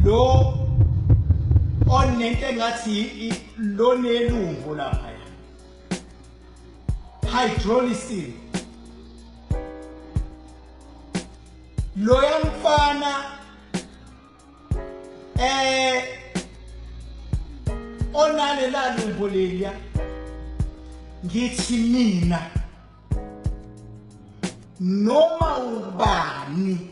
lo onento engathi lo nelumbo lapha hydrolysis loya mfana eh onale lalumbo leya ngithi mina noma ubani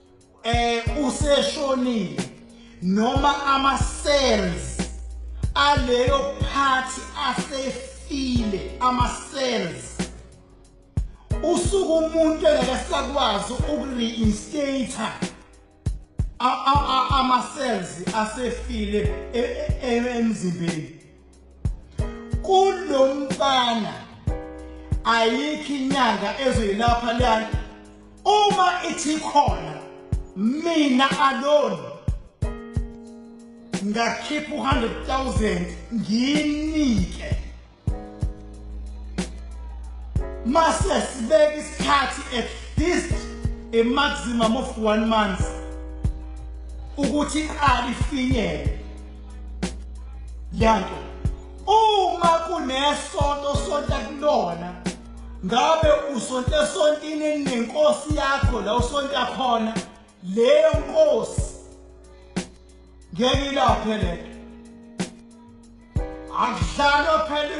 eh useshonile noma ama cells aleyo phathi asefile ama cells usuku umuntu engekasakwazi ukureinstata ama cells asefile e, e, e, emzimbeni kulomfana ayikho inyanga ezoyilapha lana uma ithi khona mina alone ngakhipha u-100000 ngiyinike mase sibeke isikhathi at least a maximum of one month ukuthi iqali ifinyele yanto uma kunesonto sonta kulona ngabe usonte sontini nenkosi yakho la usonta khona leyo nkosi ngeke ilaphe lento akudlalwa phela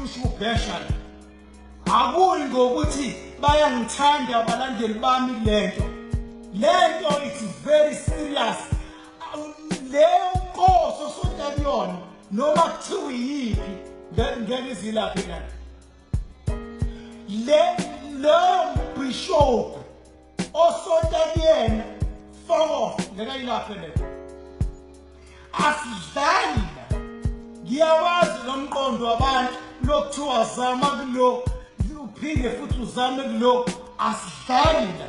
ushubhesha akuyi ngokuthi bayangithanda abalandeli bami lento lento it's very serious leyo nkosi osonta kuyona noma kuthiwa yiphi ngeke izilaphe na le leyo mbhishobhu osonta kuyena foko ngeke ayilaphe le asidlali ngiyawazi lo mqondo wabantu lokuthiwa zama kulo uphinde futhi uzame kulo asidlali la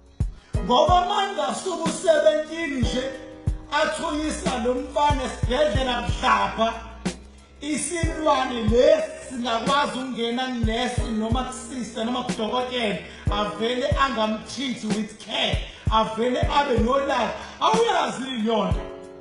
Ngoba manje asuku 17 nje athunyisa lo mfana esibhedlela mhlapha isilwane lesi singakwazi ukungena kunesi noma kusista noma kudokotela avele angamthithi with care avele abe nolaka awuyazi yonto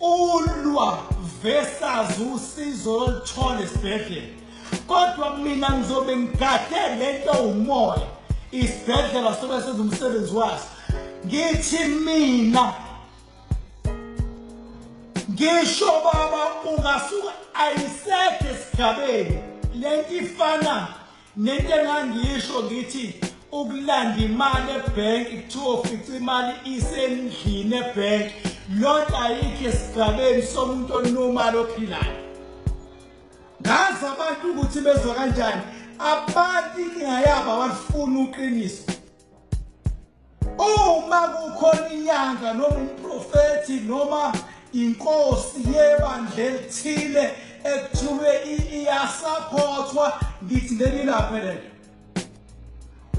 ulwa versus usizo oluthola esibhedlela kodwa mina ngizobe ngigade lento umoya isibhedlela sobe senza umsebenzi waso ngithi mina ngisho baba ungasuka ayisekho esigabeni lento ifana Nento engangiyisho ngithi ukulanda imali ebhenki kuthiwa ufica imali isendlini ebhenki loo nto ayikho esigabeni somuntu onumali ophilayo ngazi abantu ukuthi bezwa kanjani abantu iningayabo abalifuni uqiniso uma kukhona inyanga noma umprofethi noma inkosi yebandla elithile ekuthiwe iyasaphothwa ngithi leli laphe lelo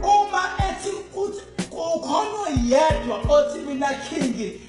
uma ethi uthi kukhona oyedwa othi mina khingi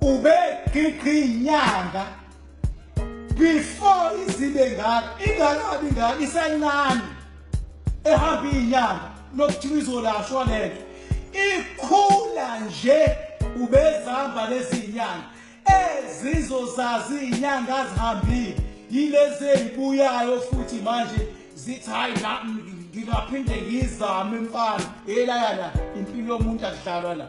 ube gqigqi inyanga before izibe ngaka ingakabi ngaka isencane ehamba inyanga nokuthiwa izolashwa lento ikhula nje ubezihamba lezi nyanga ezizozazi inyanga zihambile yilezi ezibuyayo futhi manje zithi hayi ngingaphinde ngizame mfana elaya la impilo yomuntu akudlalwa la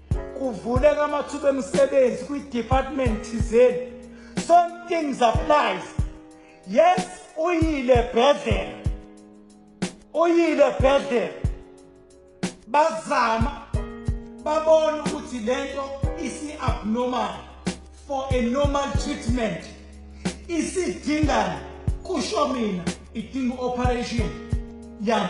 kuvuleka amathuba emisebenzi kwi-department thizeni some things applies yes uyile bhedlela uyile bhedlela bazama babona ukuthi le nto isi-abnormal for a normal treatment isidingani kusho mina idinga i-operation yami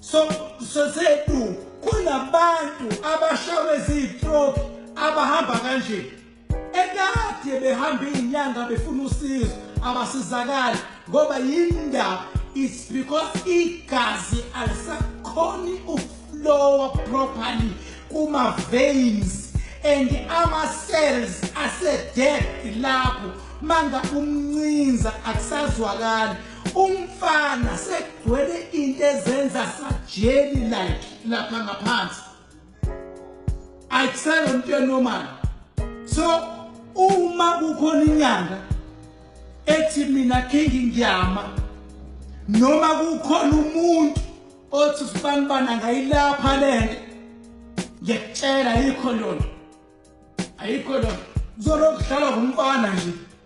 so sosethu kunabantu abashawe ziyistroke abahamba kanje ekade behamba izinyanga befuna usizo abasizakali ngoba yindaba it's because igazi alisakhoni ukuflowa properly kuma veins and ama cells ase dead lapho manga umncinza akusazwakali umfana sekugcwele into ezenza sajeli like lapha ngaphansi ayisele umuntu enormal so uma kukhona inyanga ethi mina kingi ngiyama noma kukhona umuntu othi usibanibana ngayilapha lento ngiyakutshela ayikho lona ayikho lona kuzolokudlalwa ngumfana nje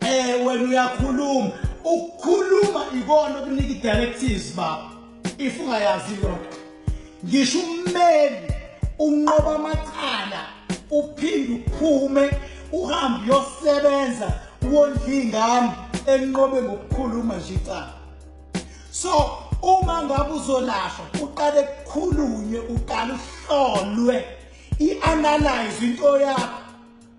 Eh wena uyakhuluma. Ukukhuluma ikona okunika idirectives baba. If ungayazi yonke. Ngisho ummeli unqoba amacala uphinde uphume uhambe yosebenza wondla ingane enqobe ngokukhuluma nje icala. So uma ngabe uzolashwa uqale kukhulunywe uqale uhlolwe i-analyze into yakho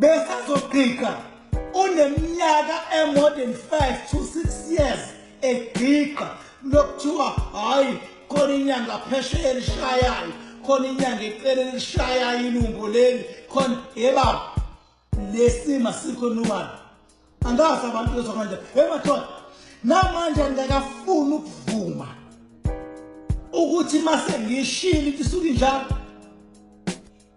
besazogqigqa uneminyaka e-more than 5 to 6 years egqigqa lokuthiwa hhayi khona inyanga phesheya elishayayo khona inyanga ecele elishayayo ilungo leli khona yebaba lesima sikho nobani angazi abantu bezwa manje emathona namanje ngingakafuni ukuvuma ukuthi mase ngishilo into isuke njalo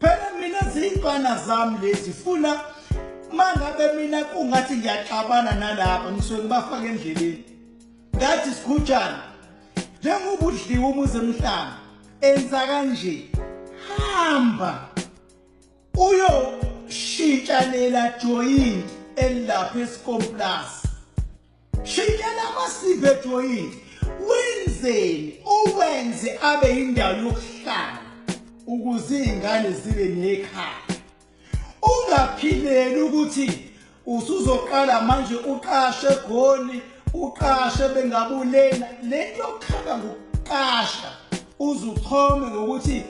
phela mina ziyintwana zami lezi funa mangabe mina kungathi ngiyaxabana nalapha ngisuke ngibafaka endleleni ngathi sikhutshana njengoba udliwe umuzi emhlanga enza kanje hamba uyoshintshanela joyini elapha esikomplasi Shayela amasipho ejoyini wenzeni uwenze abe indawo yokuhlala ukuze izingane zibe nekhaya ungaphileli ukuthi usuzoqala manje uqashe egoli uqashe bengabulena lento yokukhaba ngokuqasha uzuchome ngokuthi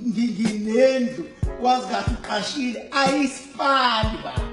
nginendlu wazi kahle uqashile ayisifani baba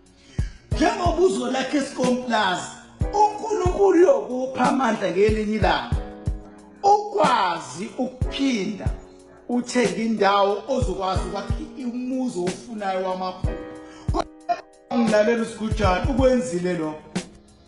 njengoba uzolakha isikomplazi unkulunkulu uyokupha amandla ngelinye ilanga ukwazi ukuphinda uthenge indawo ozokwazi ukwakha umuzi owufunayo wamaphupho ngilalela usigujana ukwenzile lokho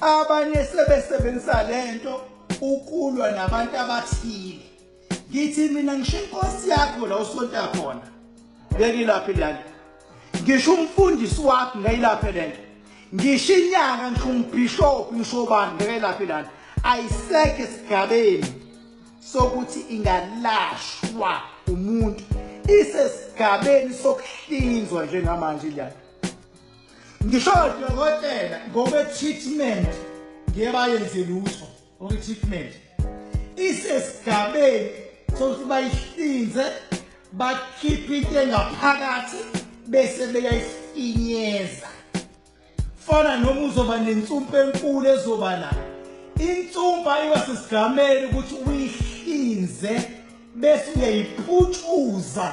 abanye sebesebenzisa lento ukulwa nabantu abathile ngithi mina ngisho inkosi yakho la usonta khona ngekilaphi lento ngisho umfundisi wakho ngeyilaphi lento ngisho inyanga ngisho umbishop ngisho bani ngekilaphi lento ayiseke sigabeni sokuthi ingalashwa umuntu isesigabeni sokuhlinzwa njengamanje lento ngisho odokotela ngokwe-treatment ngeke bayenze lutho ngokwe-treatment isesigabeni sokuthi bayihlinze bakhiphe into engaphakathi bese beyayifinyeza fana noma uzoba nensumpa enkulu ezoba nayo insumpa iba sesigameni ukuthi uyihlinze bese uyayiputshuza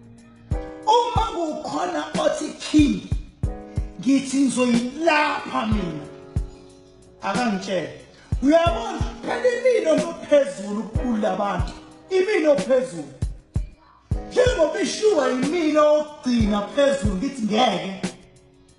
uma kukhona othi king ngithi ngizoyilapha mina akangitshele uyabona phela imino nophezulu kula bantu imino phezulu njengoba ishuwa imino okugcina phezulu ngithi ngeke